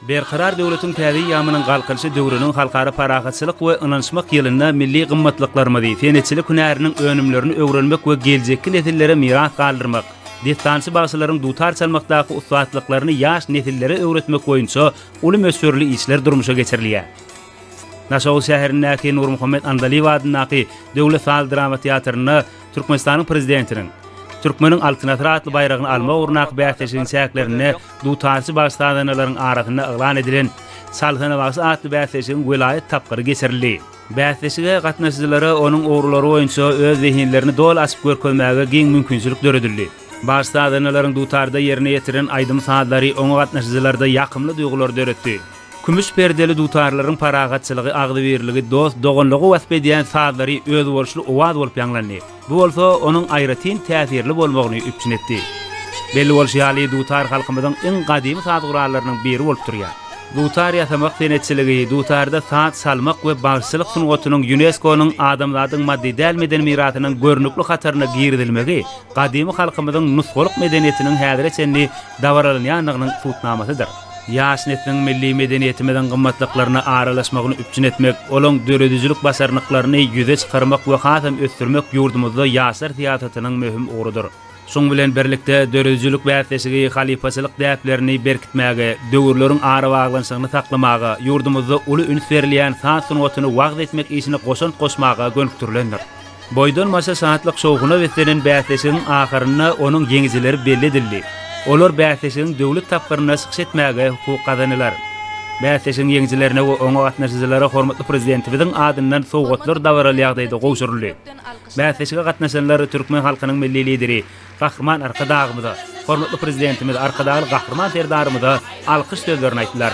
Berkarar döwletiň täze eýýamynyň Galkynyşy döwrüniň Halkara parahatçylyk we ynanyşmak ýylynda milli gymmatlyklarymyzy, senetçilik hünäriniň önümlerini öwrenmek we geljekki nesillere miras galdyrmak, dessançy-bagşylaryň dutar çalmakdaky ussatlyklaryny ýaş nesillere öwretmek boýunça uly möçberli işler durmuşa geçirilýär. Daşoguz şäherindäki Nurmuhammet Andalyýew adyndaky Döwlet saz-drama teatrynda Türkmenistanyň Prezidentiniň Türkmeniň Altyn asyry atly baýragyny almak ugrundaky bäsleşigiň çäklerinde dutarçy baş sazanalaryň arasynda yglan edilen Çalsana bagşy atly bäsleşigiň welaýat tapgyry geçirildi. Bäsleşige gatnaşyjylara onuň ugurlary boýunça öz zehinlerini doly açyp görkezmäge giň mümkinçilik döredildi. Baş sazanalaryň dutarda ýerine ýetiren aýdym-sazlary oňa gatnaşyjylarda ýakymly duýgulary döretdi. Kümüş perdeli dutarlaryň parahatçylygy, agzybirligi, dost-doganlygy wasp edýän sazlary özboluşly owaz bolup ýaňlandy. Bu bolsa onuň aýratyn täsirli bolmagyny üpjün etdi. Belli bolşy ýaly, dutar halkymyzyň iň gadymy saz gurallarynyň biri bolup durýar. Dutar ýasamak senetçiligi, dutarda saz çalmak we bagşylyk sungatynyň Ýunesko-nyň Adamzadyň maddy däl medeni mirasynyň görnükli hataryna girizilmegi gadymy halkymyzyň nusgalyk medeniýetiniň häzire çenli dabaralanýandygynyň subutnamasydyr. Ýaş nesliň milli medeniýetimiziň gymmatlyklaryna aralaşmagyny üpjün etmek, olaň döredijilik başarnyklaryny ýüze çykarmak we hasam ösdürmek ýurdumyzda ýaşlar syýasatynyň möhüm ugrudyr. Şuň bilen birlikde, döredijilik bäsleşigi halypaçylyk däplerini berkitmäge, döwürleriň arabaglanyşygyny saklamaga, ýurdumyzda uly üns berilýän saz sungatyny wagyz etmek işine goşant goşmaga gönükdirilendir. Boýdan-başa şatlyk-şowhuna beslenen bäsleşigiň ahyrynda onuň ýeňijileri belli edildi. Olar bäsleşigiň döwlet tapgyrynda çykyş etmäge hukuk gazanylar. Bäsleşigiň ýeňijilerine we oňa gatnaşyjylara hormatly Prezidentimiziň adyndan sowgatlar dabaraly ýagdaýda gowşuryldy. Bäsleşige gatnaşanlar türkmen halkynyň Milli Lideri Gahryman Arkadagymyza, hormatly Prezidentimiz Arkadagly Gahryman Serdarymyza alkyş sözlerini aýtdylar.